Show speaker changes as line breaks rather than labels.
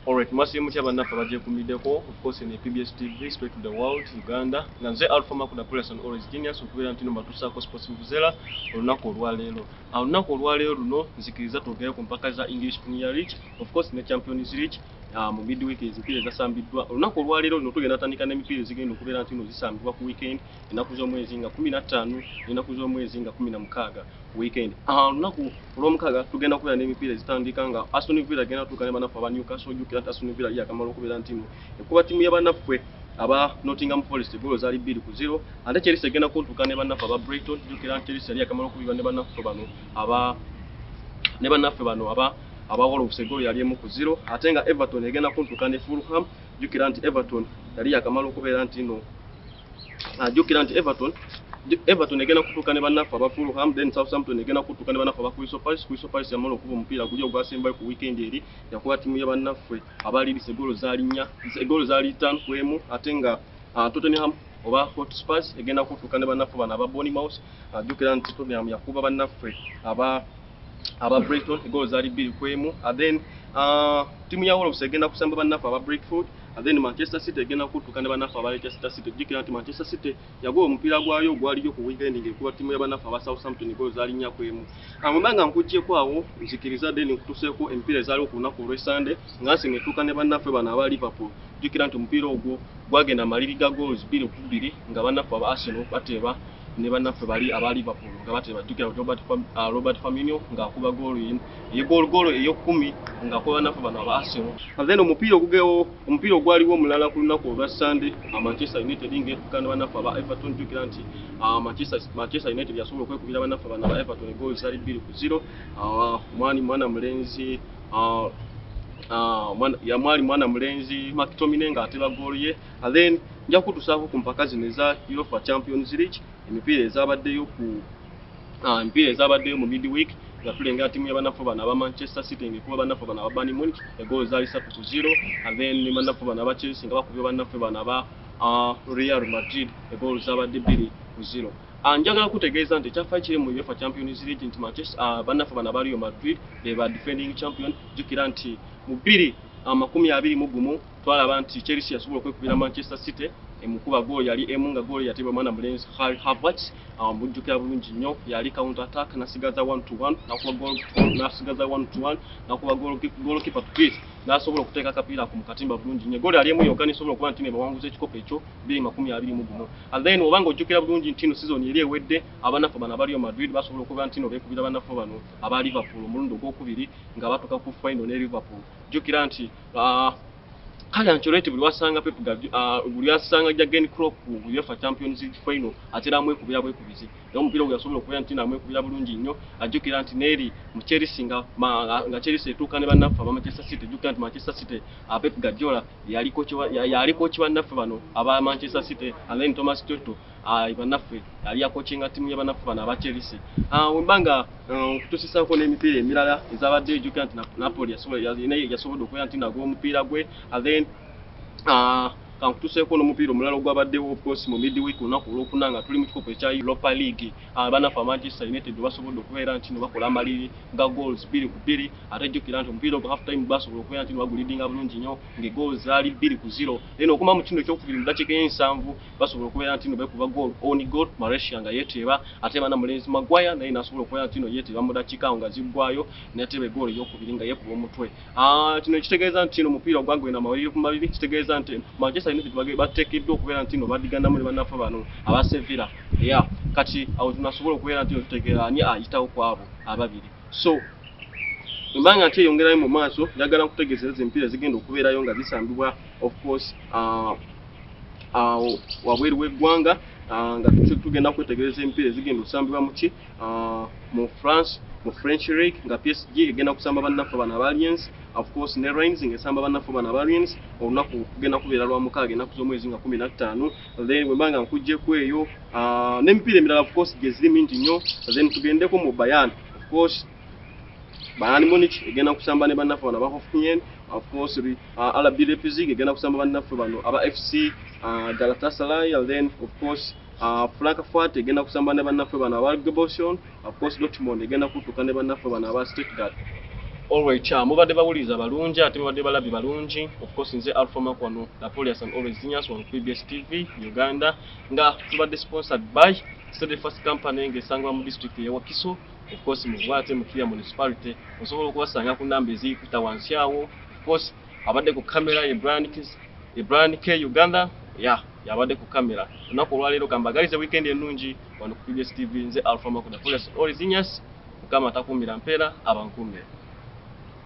Alright, mwasiri mutya bannaffe abagyekumbideko of course ne PBS TV spread to the world Uganda nga nze Alpha Makuda Pulasi and Always Genius okubeera ntino mbatuusaako sports vuvuzela olunaku olwaleero awo olunaku olwaleero luno nzikiriza twogere ku mpaka za English Premier League of course ne Champions League uh, mu midweek ezimpira ezasambiddwa olunaku olwaleero luno tugenda tandika n'emipiira ezigenda okubeera ntino zisambibwa ku weekend ennaku z'omwezi nga kumi nattaano n'ennaku z'omwezi nga kumi na mukaaga ku wiikendi ah, olunaku olw'omukaaga tugenda kubeera n'emipiira ezitandika nga aston villa agenda tuuka ne banaffe aba newcastle ojjukira nti aston villa yakamala okubeera ntimu ekuba ttimu ya banaffe aba nottingham forest egoolo zaali bbiri ku zero ate chelsea egenda kuntuuka ne banaffe aba brighton ojjukira nti chelsea yali yakamala okubirwa ne banaffe bano aba ne banaffe bano aba abawala obusegolo yali emu ku zero ate nga everton egenda kuntuka ne fulham jukira nti everton yali yakamala okubeera nti no ajukira nti everton everton egenda kutuuka ne bannaffe aba fulham then southampton egenda kutuuka ne bannaffe aba crystal palace crystal palace yamala okuba omupiira guli ogwasembayo ku weekend eri yakuba ttiimu ya bannaffe abaliirisa egoolo zaali nnya egoolo zaali ttaano ku emu ate nga ah, tottenham oba hotspurs egenda kutuuka ne bannaffe bano aba bonimouse ajukira nti tottenham yakuba bannaffe aba aba Brighton goal zaali bbiri ku emu and then uh, tiimu ya Wolves egenda kusamba bannaffe aba Brentford and then Manchester City egenda kuttuka ne bannaffe aba Leicester City jjukira nti Manchester City yagoba omupiira gwayo ogwaliyo ku weekend ng'ekuba ttiimu ya bannaffe aba Southampton goal zaali nnya ku emu amwemba nga nkuggyeko awo nzikiriza then nkutuseeko emipiira ezaaliwo ku lunaku olw'e Sunday nga nsinga etuuka ne bannaffe bano aba Liverpool jjukira nti omupiira ogwo gwagenda maliri ga goals bbiri ku bbiri nga bannaffe aba Arsenal bateeba ne bannaffe bali aba liverpool nga batebajjukira robert, Fam, uh, robert faminio ng'akuba goolo eyegolgoolo eyokumi ng'akuba bannaffe bano aba arsenal then omupiira ogugewo omupiira ogwaliwo omulala ku lunaku olwa sunday uh, manchester united ng'etuka ne bannaffe aba everton jjukira nti uh, manchester, manchester united yasobola okwekubira bannaffe bano aba everton egoolo zali bbiri ku ziro uh, mwani mwana mulenzi uh, uh, mwana, ya mwali mwana mulenzi maktomine ng'ateba goolo ye And then nja kutusaako ku mpaka zino eza Europa Champions League emipiira ezabaddeyo ku ah, emipiira ezabaddeyo mu midweek nga tulengera tiimu ya banafu bano aba Manchester City ngekuba banafu bano aba Bayern Munich egoolo zaali satu ku zero and then ne banafu bano aba Chelsea nga bakubye banafu bano aba ah, Real Madrid egoolo zabadde bbiri ku zero Ah, njagala kutegeeza nti ekyafaayo kiri mu UEFA Champions League nti Manchester ah, bannaffe bano aba Real Madrid be ba defending champion jjukira nti mu bbiri amakumi abiri mu gumu twalaba nti Chelsea yasobola okwekubira Manchester City emukuba goolo yali emu nga goolo yatebwa mwana mulenzi Harry Havertz amujjukira bulungi nnyo yali counter attack nasigaza 1 to 1 nakuba goolo nasigaza 1 to 1 nakuba goolo goolo keeper to beat nasobola okuteeka akapiira ku mukatimba bulungi nnyo goolo yali emu yokka nisobola okuba nti nebawanguza ekikopo ekyo biri makumi abiri mu gumu and then oba nga ojjukira bulungi nti no sizoni eri ewedde abanafu bano abaliyo Madrid basobola okuba nti no bekubira abanafu bano aba Liverpool omulundi ogwokubiri nga batuka ku final ne Liverpool jjukira nti Ah, kale ancoreti buli wasanga pep ah, buli asanga jagen crop uefa champions final atera amwekubira bwekubizi naye omupiira ogwo yasobola okubeera nti namwekubira bulungi nnyo ajjukira nti neeri mu cherisi nga nga cherisi etuuka ne bannaffe aba manchester city jjukira nti manchester city ah, pep gadiola yaliko kiwa yaliko kiwa nnaffe bano aba manchester city alain thomas toto ayi banaffe yali yakocinga timu ya banaffe bano aba chelsea ah, wembanga eh, okutusisako n'emipiira emirala ezabadde ejukira nti napoli yasobodde okubeera nti nagwa omupiira gwe ah, then ah, kankutuseeko n'omupiira omulala ogwabaddewo ofcourse mu midweek olunaku olwokuna nga tuli mu kikopo ekya europa league banaffe amanchester united basobodde okubeera nti no bakola amaliri nga goals bbiri ku bbiri ate jjukira nti omupiira ogwo half time basobola okubeera nti no bagulidinga bulungi nnyo ngaegoals zaali bbiri ku zero then okuma mu kino ekyokubiri mu dakiika ey'ensanvu basobola okubeera ntino bekuba goal on goal Malaysia nga yeteeba ate bana mulenzi Maguire naye nasobola okubeera ntino yeteeba mu dakika awo nga ziggwayo nateeba egoolo eyokubiri nga yekuba omutwe ah, kino ekitegeeza ntino omupiira ogwagwe na mawulire ku mabiri kitegeeza nti Manchester United bage bateekeddwa okubeera ntino badiganamu ne banafa bano aba Sevilla ya kati awo tunasobola okubeera ntino tutegeera ani ayitawo ku abo ababiri so embanga nti eyongerayo mu maaso njagala nkutegeeza ezo empiira zigenda okubeerayo nga zisambibwa of course uh, awo wabweru w'eggwanga ah, nga tugenda kwetegereza emipiira ezigenda okusambibwa muki ah, mu france mu french league nga psg egenda kusamba bannaffe bana abaliens ofcourse ne rains nga esamba bannaffe bana abaliens olunaku kugenda kubeera lwa mukaaga enaku z'omwezi nga kumi na ttaano then wemba nga nkugjeku eyo ah, n'emipiira emirala ofcourse gyeziri mingi nnyo then tugendeko mu bayan ofcourse Bayern Munich egenda kusamba ne bannaffe bano aba Hoffenheim of course bi uh, RB Leipzig egenda kusamba bannaffe bano aba FC uh, Galatasaray and then of course uh, Frankfurt egenda kusamba ne bannaffe bano aba Gebosion of course Dortmund egenda kutuka ne bannaffe bano aba Stuttgart always cha uh, mubadde bawuliriza balungi ate mubadde balabi balungi of course nze Alpha Mark wano Napoleon and always genius on PBS TV Uganda nga tubadde sponsored by Steadfast Company ngesangwa mu district ya Wakiso Of course mu Buwaate mu Kira Municipality osobola okubasanga ku namba eziyikuta wansi awo. Of course abadde ku kamera ye Brian Kiss, ye Brian K Uganda. Yeah, yabadde ku kamera. Olunaku olwaleero kambagalize weekend ennungi wano ku PBS TV nze Alpha Makuda Police Orizinyas. Mukama atakuumira mpeera abankuumire.